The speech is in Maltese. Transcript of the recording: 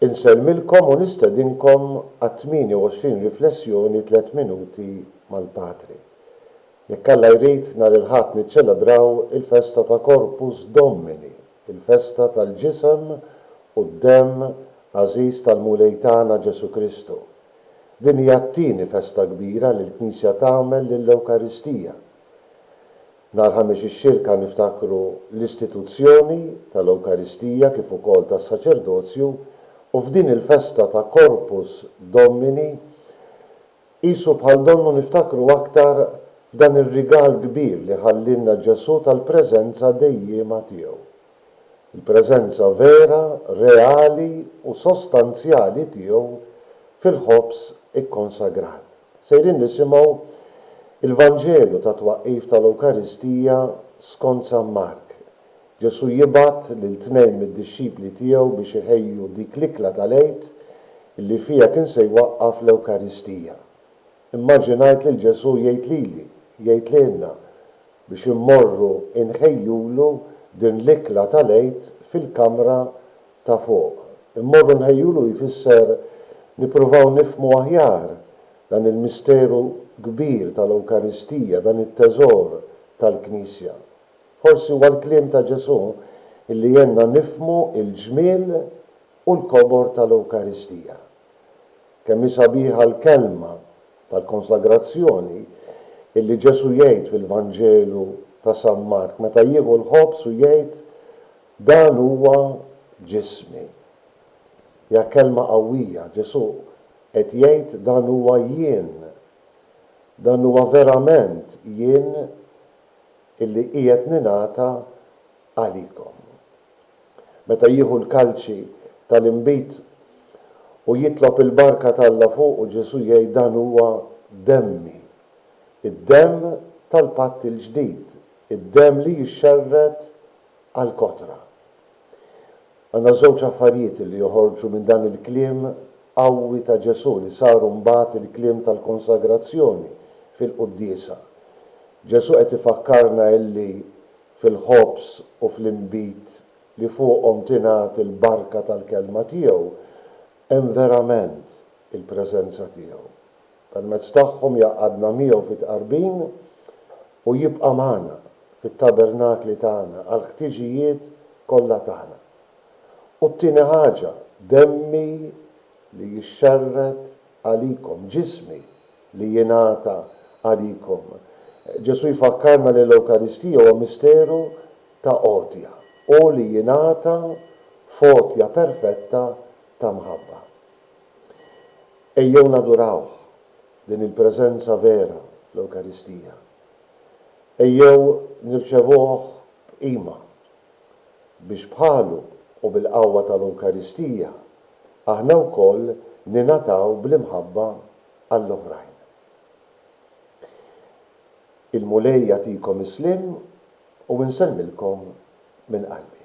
Insellmilkom u nistedinkom għat-28 riflessjoni Tliet Minuti mal-Patri. Jekk Alla jrid, nhar il-Ħadd niċċelebraw il-festa ta' Corpus Domini, il-festa tal-ġisem u d-demm għażiż tal-Mulej tagħna Ġesù Kristu. Din hija t-tieni festa kbira li l-Knisja tagħmel lill-Ewkaristija. Nhar Ħamis ix-Xirka niftakru l-istituzzjoni tal-Ewkaristija kif ukoll tas-Saċerdozju u f'din il-festa ta' Corpus Domini qisu bħal donnu niftakru aktar f'dan ir-rigal kbir li ħallielna Ġesù tal-preżenza dejjiema tiegħu. Il-preżenza vera, reali u sostanzjali tiegħu fil-ħobż ikkonsagrat. Sejrin nisimgħu l-Vanġelu tat-twaqqif tal-Ewkaristija skont San Mark. Ġesù jibgħat lil tnejn mid-dixxipli tiegħu biex iħejju dik l-ikla tal-Għid li fiha kien se jwaqqaf l-Ewkaristija. Immaġinajt lil Ġesù jgħid lili, jgħid lilna, biex immorru nħejjulu din l-ikla tal-Għid fil-kamra ta' fuq. Immorru nħejjulu jfisser nippruvaw nifhmu aħjar dan il-misteru kbir tal-Ewkaristija, dan it-teżor tal-Knisja. Forsi huwa l-kliem ta' Ġesù li għenna nifhmu l-ġmiel u l-kobor tal-Ewkaristija. Kemm hi sabiħa l-kelma tal-konsagrazzjoni li Ġesù jgħid fil-Vanġelu ta' San Mark meta jieħu l-ħobż u jgħid, Dan huwa ġismi. Hija kelma qawwija, Ġesù qed jgħid dan huwa jien. Dan huwa verament jien illi qiegħed ningħata għalikom. Meta jieħu l-kalċi tal-inbid u jitlob il-barka t'Alla fuqu, Ġesù jgħid dan huwa demmi, id-demm tal-patt il-ġdid, id-demm li jixxerred għall-kotra. Għandna żewġ affarijiet li joħorġu minn dan il-kliem qawwi ta' Ġesù li saru mbagħad il-kliem tal-konsagrazzjoni fil-quddiesa. Ġesù qed ifakkarna illi fil-ħobż u fl-inbid li fuqhom tingħad il-barka tal-kelma tiegħu hemm verament il-preżenza tiegħu. Permezz tagħhom jgħaqqadna miegħu fit-tqarbin u jibqa' magħna fit-tabernakli tagħna għall-ħtiġijiet kollha tagħna. U t-tieni ħaġa, demmi li jixxerred għalikom, ġismi li jingħata għalikom. Ġesù jfakkarna li l-Ewkaristija huwa misteru ta' għotja u li jingħata f'għotja perfetta ta' mħabba. Ejjew nadurawh, din il-preżenza vera, l-Ewkaristija. Ejjew nirċevuh b'qima, biex bħalu u bil-qawwa tal-Ewkaristija aħna wkoll ningħataw bl-imħabba għall-oħrajn. Il-Mulej jagħtikom is-sliem u nsellmilkom minn qalbi.